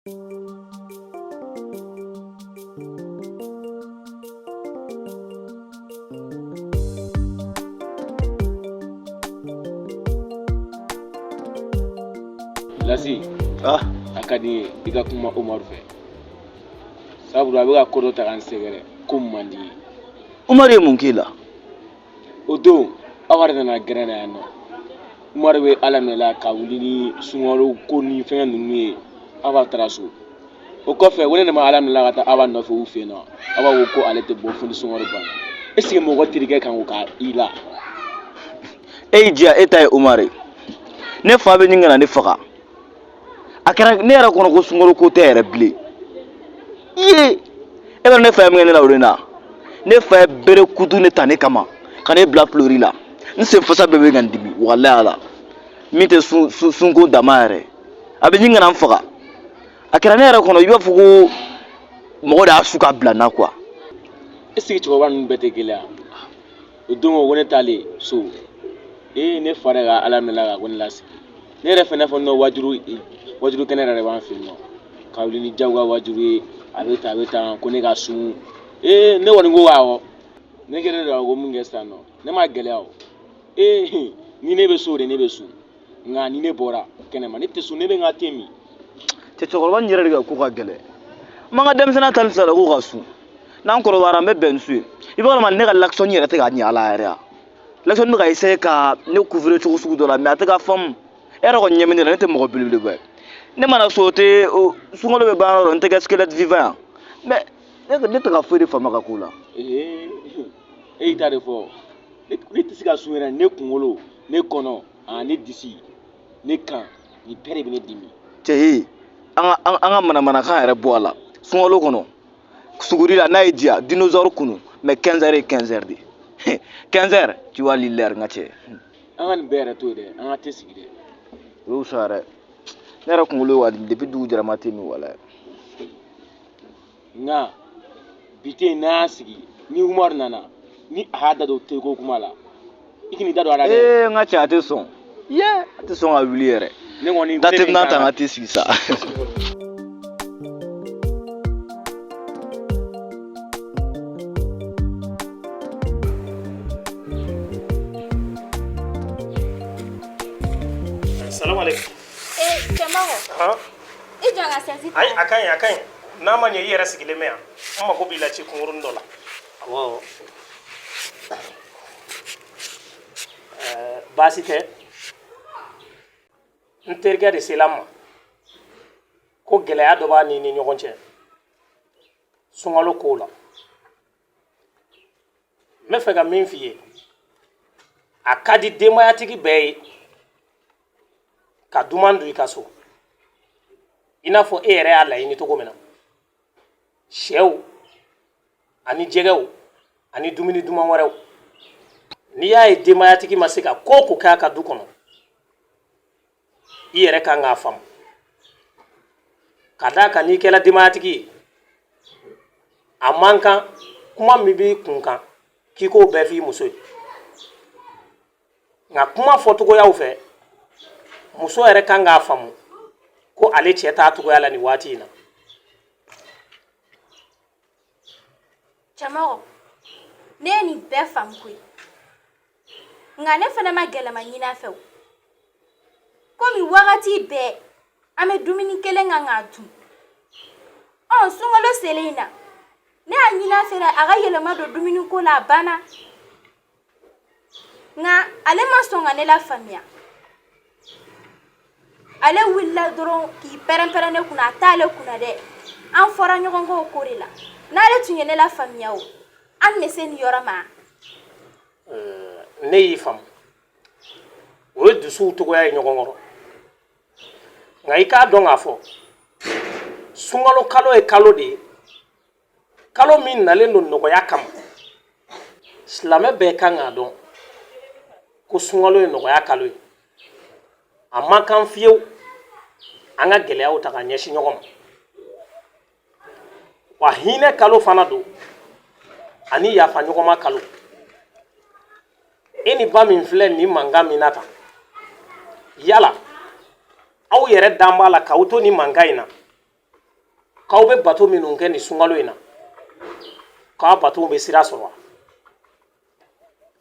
Lasi, ah. a ka di n ye i ka kuma Umaru fɛ sabula a bɛ ka ko dɔ ta ka n sɛgɛrɛ ko man di n ye. Umaru ye mun k'i la? o don aw yɛrɛ nana gɛrɛn na yan nɔ umaru bɛ ala minɛ la ka wuli ni sunkalo ko ni fɛngɛ ninnu ye Aba taara so o kɔfɛ wele ne ma ala minɛ la ka taa Aba nɔfɛ u fɛ yen nɔ Aba ko ko ale tɛ bɔ fo ni sunkalo banna est ce que mɔgɔ terikɛ kan k'o k'i la e y'i diya e ta ye umaru ye ne fa bɛ ɲini ka na ne faga a kɛra ne yɛrɛ kɔnɔ ko sunkalo ko tɛ yɛrɛ bilen ye e bɛ ne fa ye min kɛ ne la o de na ne fa ye bere kutunin ta ne kama ka ne bila pilori la n sen fasa bɛɛ bɛ ka n dimi walayi ala nin tɛ sunko dama yɛrɛ a bɛ ɲini ka na n faga a kɛra ne yɛrɛ kɔnɔ i b'a fɔ ko mɔgɔ de y'a su ka bila n na quoi. est ce que cɛkɔrɔba ninnu bɛɛ tɛ gɛlɛya o don ko ne taalen so ee ne fa de ka ala minɛ la ka ko ne lasigi ne yɛrɛ fana fɔ n'o waajuli waajuli kɛnɛ yɛrɛ de b'an fɛ yen nɔ ka wuli ni jagoya waajuli ye a bɛ tan a bɛ tan ko ne ka sun ee ne kɔni ko awɔ ne kɛlen don ko mun kɛ sisan nɔ ne ma gɛlɛya o ee ni ne bɛ so de ne bɛ sun nka ni ne bɔra kɛnɛma ne tɛ sun ne bɛ n ka te min cɛ cɛkɔrɔba in yɛrɛ de ka ko ka gɛlɛn n b'an ka denmisɛnninya tali sira la ko ka sun n'an kɔrɔbayara an bɛ bɛn ni sun ye i b'a dɔn mais ne ka l'action yɛrɛ tɛ ka ɲɛ ala yɛrɛ ya l'action bɛ ka essayer ka ne couvrir cogo sugu dɔ la mais a tɛ ka faamu e yɛrɛ kɔni ɲɛ bɛ ne la ne tɛ mɔgɔ belebeleba ye ne mana sun ten sunkalo bɛ ban yɔrɔ dɔ n tɛ kɛ squelette vivant ye wa mais ne tɛ ka foyi de faamu a ka ko la. ee e y'i ta de fɔ ne tɛ se ka sun yɛrɛ ne kunkolo ne kɔnɔ ani ne disi ne kan nin bɛɛ de bɛ ne dimi. cɛ ye an ka an ka manamanakan yɛrɛ bɔ a la sunkalo kɔnɔ. suguri la n'a y'i diya dinosaure kunu mais 15 heures ye 15 heures de 15 heures tu vois l'heure n ka cɛ an ka nin bɛɛ yɛrɛ to yen dɛ an ka te sigi dɛ o wusa yɛrɛ ne yɛrɛ kunkolo bɛ ka n dimi depuis dugu jɛra n ma te min walayi n ka bi te n'a y'a sigi ni umaru nana ni a y'a da don te ko kuma la i k'i da don a la dɛ ee n ka cɛ a tɛ sɔn ye a tɛ sɔn ka wuli yɛrɛ ne kɔni da tɛ n'a ta n ka te sigi sa ayi a ka ɲi a ka ɲi n'a ma ɲɛ i yɛrɛ sigilen bɛ yan n mago b'i la ci kunkurunnin dɔ la Awɔ baasi tɛ n terikɛ de sela n ma ko gɛlɛya dɔ b'a ni ni ɲɔgɔn cɛ sunkalo kow la n b'a fɛ ka min f'i ye a ka di denbayatigi bɛɛ ye ka duman dun i ka so i n'a fɔ e yɛrɛ y'a laɲini cogo min na sɛw ani jɛgɛw ani dumuni duman wɛrɛw n'i y'a ye denbayatigi ma se ka ko o ko kɛ a ka du kɔnɔ i yɛrɛ kan k'a faamu k'a d'a kan n'i kɛra denbayatigi ye a man kan kuma min b'i kun kan k'i k'o bɛɛ f'i muso ye nka kuma fɔcogoyaw fɛ muso yɛrɛ kan k'a faamu ko ale cɛ t'a cogoya la nin waati in na Cɛmɔgɔ ne ye nin bɛɛ faamu koyi nka ne fana ma gɛlɛman ɲini a fɛ o komi wagati bɛɛ an bɛ dumuni kelen kan k'a dun ɔ sunkalo selen in na ne y'a ɲini a fɛ dɛ a ka yɛlɛma don dumuni ko la a banna nka ale ma sɔn ka ne lafaamuya ale wulila dɔrɔn k'i pɛrɛnpɛrɛn ne kunna a t'ale kunna dɛ an fɔra ɲɔgɔn kɔ o ko de la n'ale tun ye ne lafaamuya o an bɛ se nin yɔrɔ ma ne y'i faamu o ye dusuw cogoya ye ɲɔgɔn kɔrɔ nka i k'a dɔn k'a fɔ sunkalo kalo ye kalo de ye kalo min nalen don nɔgɔya kama silamɛ bɛɛ kan k'a dɔn ko sunkalo ye nɔgɔya kalo ye a man kan fiyewu an ka gɛlɛyaw ta ka ɲɛsin ɲɔgɔn ma wa hinɛ kalo fana don ani yafa ɲɔgɔnma kalo e ni ba min filɛ nin mankan min na tan yala aw yɛrɛ dalen b'a la k'aw to nin mankan in na k'aw bɛ bato minnu kɛ nin sunkalo in na k'aw batow bɛ sira sɔrɔ wa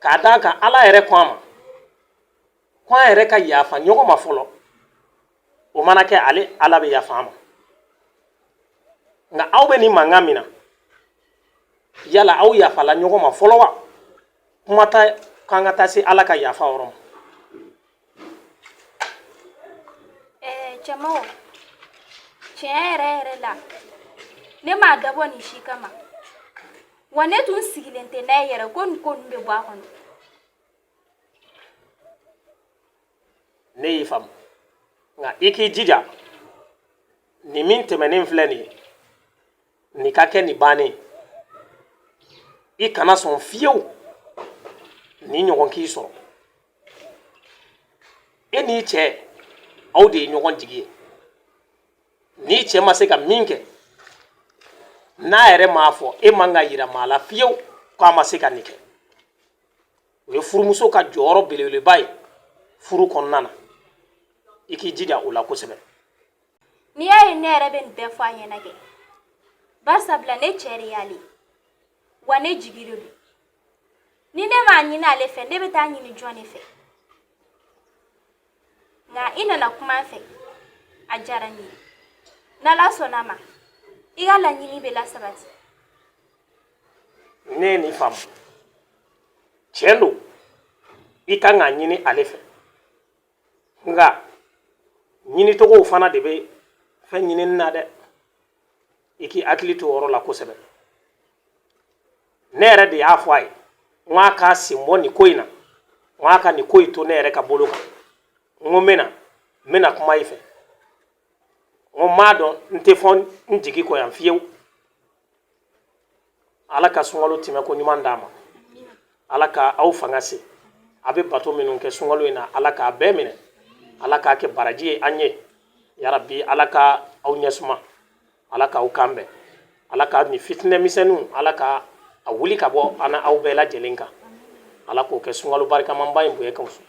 k'a d'a kan ala yɛrɛ ko an ma ko an yɛrɛ ka yafa ɲɔgɔn ma fɔlɔ o mana kɛ ale ala bɛ yafa an ma nka aw bɛ nin mankan min na yala aw yafala ɲɔgɔn ma fɔlɔ wa kuma tɛ k'an ka taa se ala ka yafa yɔrɔ ma eh cɛmɔgɔ tiɲɛ yɛrɛ yɛrɛ la ne m'a dabɔ nin si kama wa ne tun sigilen tɛ n'a ye yɛrɛ ko nin ko ninnu bɛ bɔ a kɔnɔ ne y'i faamu nka i k'i jija nin min tɛmɛnen filɛ nin ye Nin ka kɛ nin bannen ye. I kana sɔn fiyewu nin ɲɔgɔn k'i sɔrɔ. E n'i cɛ aw de ye ɲɔgɔn jigi ye. N'i cɛ ma se ka min kɛ, n'a yɛrɛ m'a fɔ, e man k'a yira maa la fiyewu k'a ma se ka nin kɛ. O ye furumuso ka jɔyɔrɔ belebeleba ye furu kɔnɔna na. I k'i jija o la kosɛbɛ. n'i y'a ye ne yɛrɛ bɛ nin bɛɛ fɔ a ɲɛna kɛ barisabula ne cɛ de y'ale ye wa ne jigi de don ni ne m'a ɲini ale fɛ ne bɛ taa ɲini jɔn de fɛ nka i nana kuma n fɛ a diyara n ye n'ala sɔnna a ma i ka laɲini bɛ lasabati ne ye nin faamu tiɲɛ don i kan k'a ɲini ale fɛ nka ɲinicogow fana de bɛ fɛn ɲinini na dɛ i k'i hakili to o yɔrɔ la kosɛbɛ ne yɛrɛ de y'a fɔ a ye n ko a k'a sen bɔ nin ko in na n ko a ka nin ko in to ne yɛrɛ ka bolo kan n ko n bɛna n bɛna kuma i fɛ n ko n b'a dɔn n tɛ fɔ n jigi kɔ yan fiyewu ala ka sunkalo tɛmɛko ɲuman d'a ma ala ka aw fanga se a bɛ bato minnu kɛ sunkalo in na ala k'a bɛɛ minɛ ala k'a kɛ baraji ye an ye yarabi ala ka aw ɲɛsuma ala k'aw kan bɛn ala ka nin fitinɛ misɛnninw ala ka a wuli ka bɔ an n'aw bɛɛ lajɛlen kan ala k'o kɛ sunkalo barikamanba in bonya kan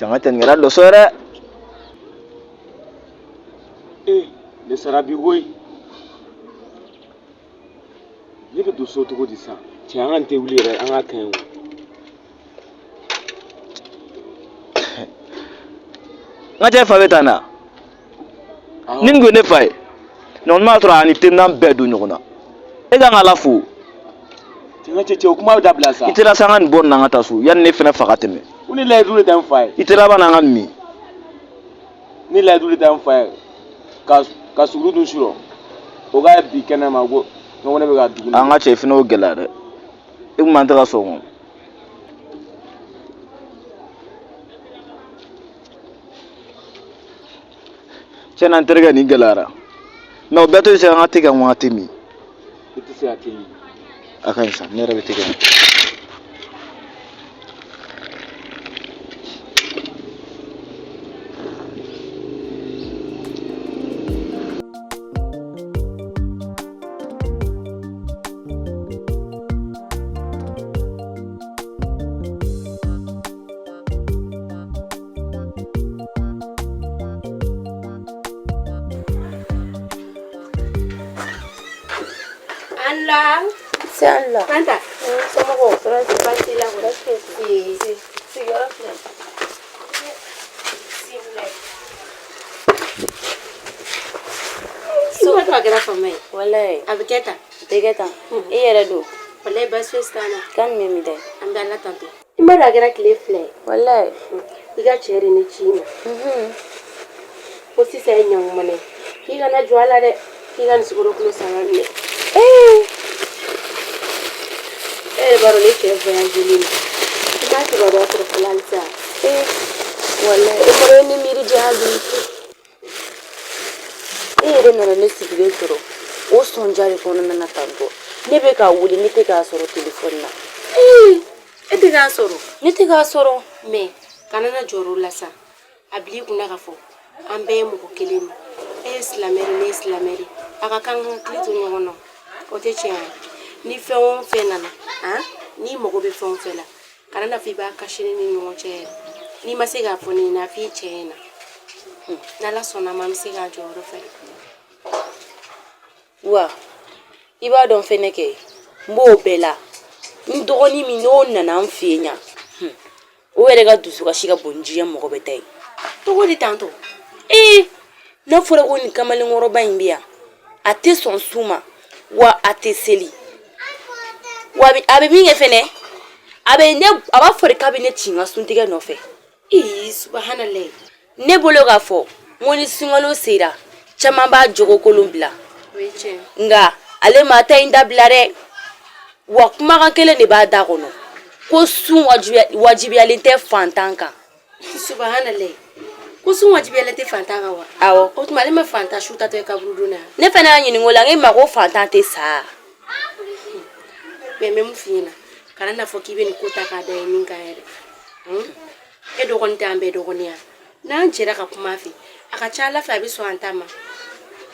jama tɛ nin kɛra dɔ sɔrɔ dɛ ee ne sara bi koyi ne bɛ don so cogo di sisan cɛ an ka nin te wuli yɛrɛ an k'a kaɲi o n ka cɛ fa bɛ tan na ni tun ye ne fa ye ne kɔni b'a sɔrɔ a ni teminan bɛɛ don ɲɔgɔn na e ka kan k'Ala fo Tiɲɛ cɛ cɛ o kuma bɛ dabila sa. i teliya sa an ka nin bɔ nin na an ka taa so yanni ne fana fa ka tɛmɛ Ko ni layidu de tɛ n fa ye. i teliya bani an ka nin min Ni layidu de tɛ n fa ye. Ka ka suguru dun surɔ. O ka ye bi kɛnɛ ma ko n ko ne bɛ ka dugu. an ka cɛ i fana y'o gɛlɛya dɛ i tun man tɛ ka sɔn o ma cɛn na n terikɛ nin gɛlɛyara mɛ o bɛɛ to yen sa an ka te kɛ ŋɔn a tɛ min i tɛ se ka te min a ka ɲi sa ne yɛrɛ bɛ te ka ɲi Ala se ala somɔgɔw fura ti baasi la wɛrɛ tɛ sigiyɔrɔ filɛ suba to a kɛra fama ye walayi a bɛ kɛ tan a bɛ kɛ tan i yɛrɛ dun walayi baasi foyi t'an na kan min bɛ da an bɛ ala tanto i ma a kɛra tile fila walayi i ka cɛ de ye n ci i ma mhm. ko sisan ye ɲa min ye k'i kana jɔn a la dɛ k'i ka sukaro kilo saba minɛ e b'a dɔn ne cɛ voyagelen n m'a kibaruya sɔrɔ fɔlɔ halisa walayi e ni miiri diya bi e yɛrɛ nana ne sigilen sɔrɔ o sɔnja de kɔnɔna na tantɔ ne bɛ k'a wele ne tɛ k'a sɔrɔ telefɔni na e tɛ k'a sɔrɔ ne tɛ k'a sɔrɔ mɛ kana na jɔrɔ o la sa a bil'i kunna k'a fɔ an bɛɛ ye mɔgɔ kelen de e ye silamɛ de ne ye silamɛ de an ka kan ka hakili to ɲɔgɔn na o tɛ tiɲɛ ye ni fɛn o fɛn nana n'i mago bɛ fɛn o fɛn la kana n'a fɔ i b'a kasi ne ni ɲɔgɔn cɛ yɛrɛ n'i ma se k'a fɔ ne ɲɛna a f'i cɛ ɲɛna n'ala sɔnna ma an bɛ se k'a jɔyɔrɔ fa wa i b'a dɔn fɛnɛ kɛ n b'o bɛɛ la n dɔgɔnin min n'o nana n fɛ yen yan o yɛrɛ ka dusukasi ka bon ni diɲɛ mɔgɔ bɛɛ ta ye cogo di tantɔ ee n'a fɔra ko nin kamalenkɔrɔba in bɛ yan a tɛ sɔn sun ma wa a tɛ seli wa a bɛ min kɛ fɛnɛ a bɛ ne a b'a fɔ de k'a bɛ ne ci n ka suntigɛ nɔfɛ ee subahanallahi ne bolo k'a fɔ n ko ni sunkalo sera caman b'a jogokolon bila nka ale m'a ta in dabila dɛ wa kumakan kelen de b'a da kɔnɔ ko sun wajibiyalen tɛ fantan kan subahanallahi ko sun wajibiyalen tɛ fantan kan wa awɔ o tuma ale ma fantan su tatɔ ye kaburudon na ne fana y'a ɲininka o la n k'i ma ko fantan tɛ sa mɛ n bɛ mun f'i ɲɛna kana n'a fɔ k'i bɛ nin ko ta k'a da ye min kan yɛrɛ hun? e dɔgɔnin tɛ an bɛɛ dɔgɔnin ya n'an jɛra ka kuma a fɛ a ka ca ala fɛ a bɛ sɔn an ta ma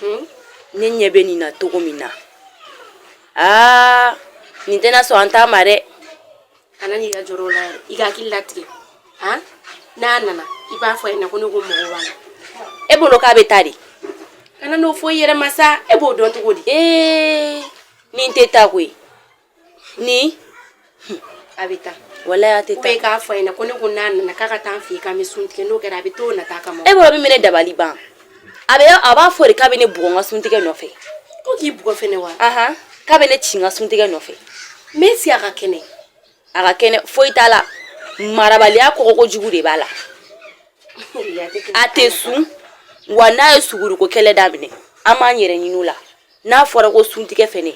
hun? ne ɲɛ bɛ nin na cogo min na aa nin tɛna sɔn an ta ma dɛ kana n'i ka jɔrɔ o la yɛrɛ i ka hakili latigɛ han n'a nana i b'a fɔ a ɲɛna ko ne ko n mago b'a la e bolo k'a bɛ taa de kana n'o fɔ i yɛrɛ ma sa e b'o dɔn cogo di ee nin tɛ taa koyi nin a bɛ taa wala a tɛ taa e k'a fɔ a ɲɛna ko ne ko n'a nana k'a ka taa n fɛ yen k'an bɛ sun tigɛ n'o kɛra a bɛ t'o nata kama e bolo bɛ minɛ dabali ban a bɛ a b'a fɔ de k'a bɛ ne bugɔ n ka suntigɛ nɔfɛ ko k'i bugɔ fɛnɛ wa ahan k'a bɛ ne ci n ka suntigɛ nɔfɛ mais si a ka kɛnɛ a ka kɛnɛ foyi t'a la marabaliya kɔngɔko jugu de b'a la a tɛ sun wa n'a ye suguruko kɛlɛ daminɛ an b'an yɛrɛ ɲini o la n'a fɔra ko suntigɛ fɛnɛ